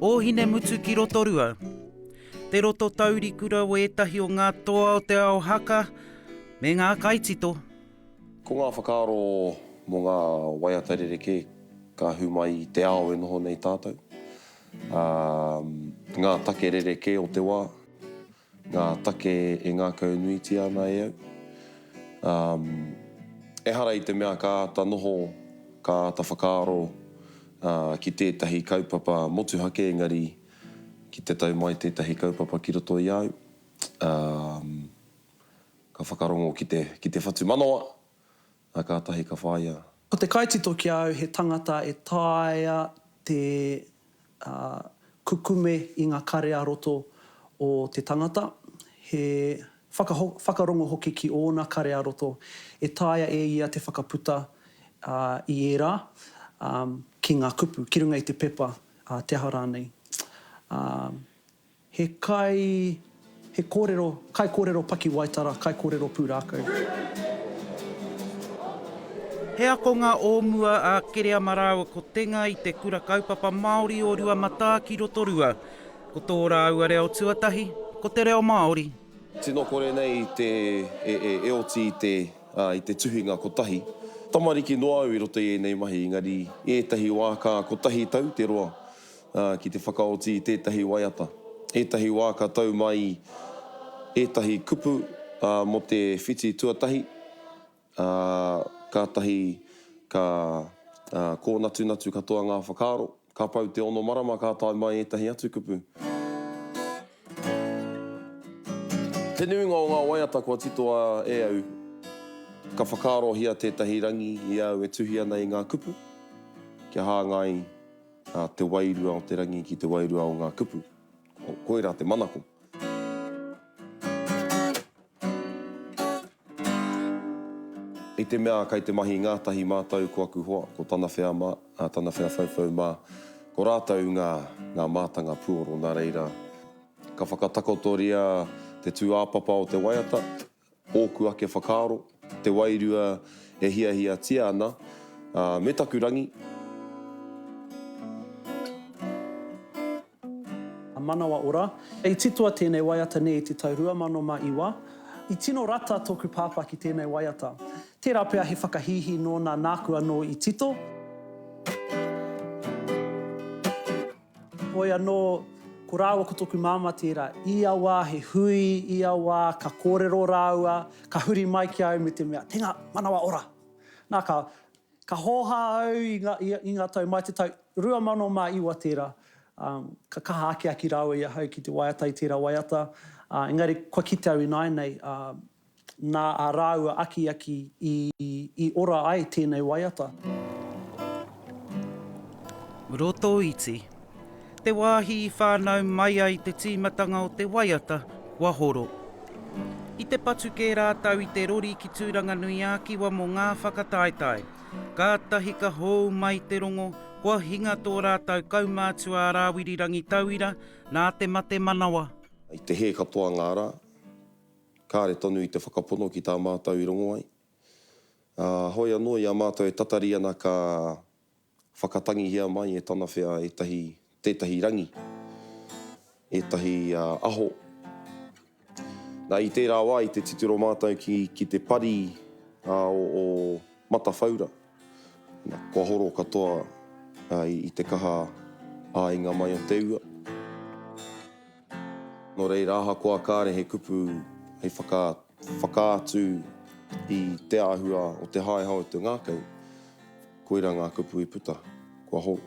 Ōhinemutu ki Rotorua. Te roto taurikura o ētahi o ngā toa o te ao haka me ngā kaitito. Ko ngā whakaaro mō ngā waiata rerekē ka hū mai i te ao e noho nei tātou, ā, ngā take rerekē o te wā, Ngā take e ngākaunuitia ana e au. Um, ehara i te mea ka āta noho, ka āta whakaaro uh, ki tētahi kaupapa motuhake engari ki te tau mai tētahi kaupapa ki roto i a au, um, ka whakarongo ki te, ki te whatumanawa, Na katahi ka whaia. Ko te kaitito ki a au he tangata e taea te kukume i nga kare a roto o te tangata, he whakarongo hoki ki ona kare a roto e taea e ia te whakaputa i era ki nga kupu, ki runga i te pepa, te aha ranei. He kai, he kōrero, kaikōrero pakiwaitara, kaikōrero pūrākau. He akonga o mua a Kereama rāua ko Tenga i te Kura Kaupapa Māori o Ruamatā ki Rotorua. Ko tō rāua reo tuatahi, ko te reo Māori. Tino kore nei i te e oti i te i te tuhinga kotahi. Tamariki noa au i roto i ēnei mahi, engari i ētahi wā ka kotahi tau te roa. ki te whakaoti i tētahi waiata, ētahi wā ka tau mai ētahi kupu mō te whiti tuatahi, ā, kātahi ka kōnatunatu katoa ngā whakaaro. Ka pau te ono marama ka tae mai ētahi atu kupu. Te nuinga o ngā waiata kua titoa e au, ka whakaarohia tētahi rangi i a au e tuhi ana i ngā kupu kia hāngai. a te wairua o te rangi ki te wairua o ngā kupu. Koirā te manako. I te mea kai te mahi ngātahi mātou ko aku hoa, ko tana whea mā, tana whea whauwhau mā, ko rātou ngā, ngā mātanga puoro nā reira, ka whakatakotoria te tūāpapa o te waiata, Ōku ake whakaaro, te wairua e hiahiatia ana, ā, me taku rangi. Manawa ora. I titoa tēnei waiata nei i te tau 2009. I tino rata tōku pāpā ki tēnei waiata. Tērā pea he whakahīhī nōna nāku anō i tito. Hoi anō, ko rāua ko tōku māmā tērā, ia wā he hui, ia wā ka kōrero rāua, ka huri mai ki a au me te mea, tēnā, manawa ora! Nā, ka, ka hōhā au i ngā, i ngā tau mai te tau 2009 tērā, ā, ka kaha akiaki rāua i ahau ki te waiata i tērā waiata, ā, engari kua kite au ināianei, ā, nā ā rāua akiaki i ora ai tēnei waiata. Rotoiti. Te wāhi i whānau mai ai te tīmatanga o te waiata, kua horo. I te patu kē rātou i te rori ki Tūranganui-ā-Kiwa mō ngā whakataetae. Kātahi ka hou mai te rongo, kua hinga tō rātou kaumātua a Rāwiri Rangitauira nā te mate manawa. I te hē katoa ngā rā, Kāre tonu i te whakapono ki tā mātou i rongo ai. Ā, hoi anō i a mātou e tatari ana ka whakatangihia mai e tana whea ētahi, tētahi rangi, ētahi aho. Nā, i tērā wā, i te titiro mātou ki, ki te pari, ā, o, o Matawhaura. Kua horo katoa i te kaha āinga mai o te ua. Nō reira, ahakoa kāre he kupu hei whakaatu i te āhua o te haeha o te ngākau, koirā ngā kupu i puta, kua horo.